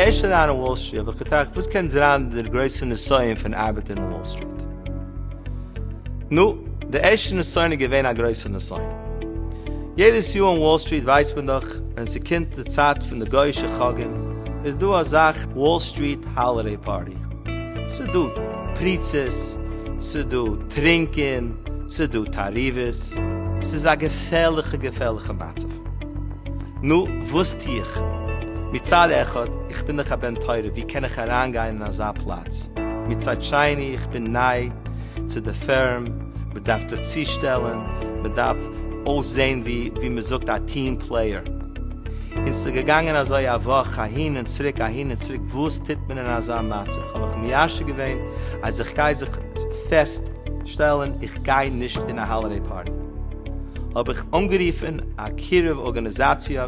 ערשט אריין אין וואל סטריט האב איך געטראכט וואס קען זיין דער גרויסער נסיון פון ארבעטן אין וואל סטריט נו דער ערשטער נסיון איז געווען א גרויסער נסיון יעדעס יאר אין וואל סטריט ווייסט מען דאך ווען ס'קומט די צייט פון די גוי'אישע חגים איז דא א זאך וואל סטריט האלידעי פארטי, ס'דא פריצות, ס'דא טרינקען, ס'דא תערובות, ס'איז א געפערליכע געפערליכע מצב. נו, וואס טו איך? מצד אחד, איך בין דאך א בן תורה, ווי קען איך אריינגיין אין אזא פלאץ? מצד שני, איך בין ניי צו די פירם, מ'דארף זיך צושטעלן, מ'דארף אויסזען ווי מ'זאגט א טיעם פלעיער. און ס'איז געגאנגען אזוי א וואך אהין און צוריק אהין און צוריק, וואס טוט מען אין אזא מצב? האב איך מיישב געווען אז איך גיי זיך פעסט שטעלן איך גיי נישט אין א האלעדעי פארטי. האב איך אנגערופן א קירוב ארגאניזאציע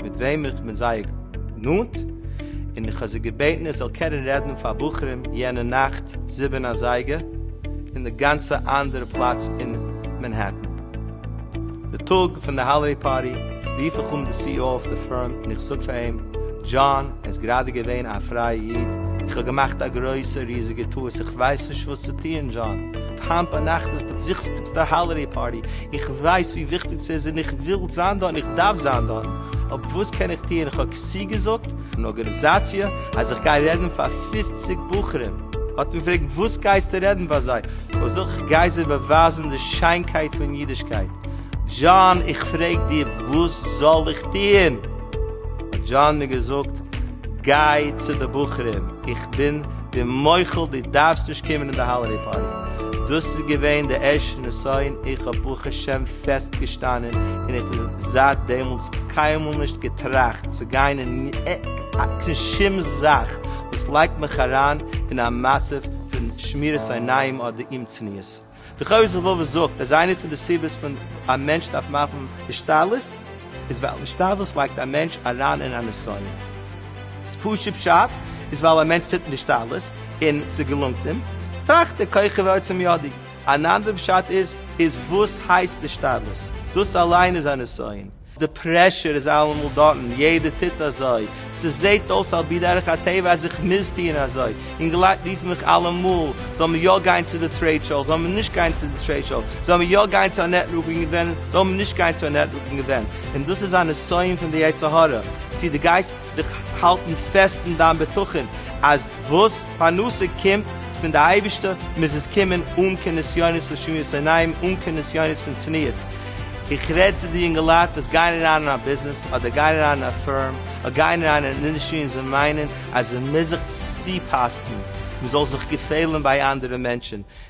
מיט וועם איך בין זייער נאנט, און איך האב זי געבעטן איך זאל קענען רעדן פאר בחורים יענע נאכט זיבן אזייגער אין די גאנצע אנדערע פלאץ אין מענהעטן. די טאג פון די האלידעי פארטי רוף איך אן די סי אי או אויף די פאון און איך זאג פאר אים, דזשאן, ער איז גראדע געווען א פרייע איד, איך האב געמאכט א גרויסע ריזיגע טעות, איך ווייס נישט וואס צו טוען, דזשאן, היינט ביינאכט איז די וויכטיגסטע האלידעי פארטי, איך ווייס ווי וויכטיג ס'איז און איך וויל זיין דארט און איך דארף זיין דארט, אבער וואס קען איך טוען, איך האב צוגעזאגט. אן ארגאניזאציע אז איך גיי רעדן פאר פֿופֿציק בחורים, האט אים געפרעגט, וואס גייסטו רעדן פאר זיי? וואס אויך גייט זיי באווייזן די שיינקייט פון אידישקייט. דזשאן, איך פרעג דיר, וואס זאל איך טוען? האט דזשאן מיר געזאגט, גיי צו די בחורים, איך בין דיר מוחל, דו דארפסט נישט קומען אין די האלעדעי פארטי. דאס איז געווען די ערשטע נסיון, איך האב ברוך השם פעסט געשטאנען, און איך בין זייט דעמאלטס קיינמאל נישט געטראכט צו גיין אין קיין שום זאך וואס לייגט מיך אריין אין א מצב, פון שמירת עיניים אדער אומצניעות. דער חובת הלבבות זאגט אז איינע פון די סיבות פון א מענטש דארף מאכן השתדלות איז ווייל השתדלות לייגט א מענטש אריין אין א נסיון. דאס פשוט פשט איז ווייל א מענטש טוט השתדלות און ס'געלונגט אים, טראכט ער כוחי ועוצם ידי. אן אנדערע פשט איז, איז וואס הייסט השתדלות? דאס אליין איז א נסיון. די פרעשור איז אלעמאל דארטן, יעדער טוט אזוי, ס'זעהט אויס על פי דרך הטבע אז איך מוז טוען אזוי, און די לייט רופן מיך אלעמאל, זאל מען יא גיין צו די טרעיד שאו, זאל מען נישט גיין צו די טרעיד שאו, זאל מען יא גיין צו א נעטווארקינג אווענט, זאל מען נישט גיין צו א נעטווארקינג אווענט, און דאס איז א נסיון פון די יצר הרע, צו די גייסט. דיך האלטן פעסט אין דיין בטחון אז וואס פרנסה קומט פון די אייבישטער מוז עס קומען אן קיין נסיונות און שמירת עיניים, אן קיין נסיונות פון צניעות. איך רעד צו די יונגעלייט וואס גייען אריין אין א ביזנעס אדער גייען אריין אין א פירם אדער גייען אריין אין אן אינדעסטרי און זיי מיינען אז עס מוז זיך צופאסטן, מען זאל זיך געפעלן ביי אנדערע מענטשן,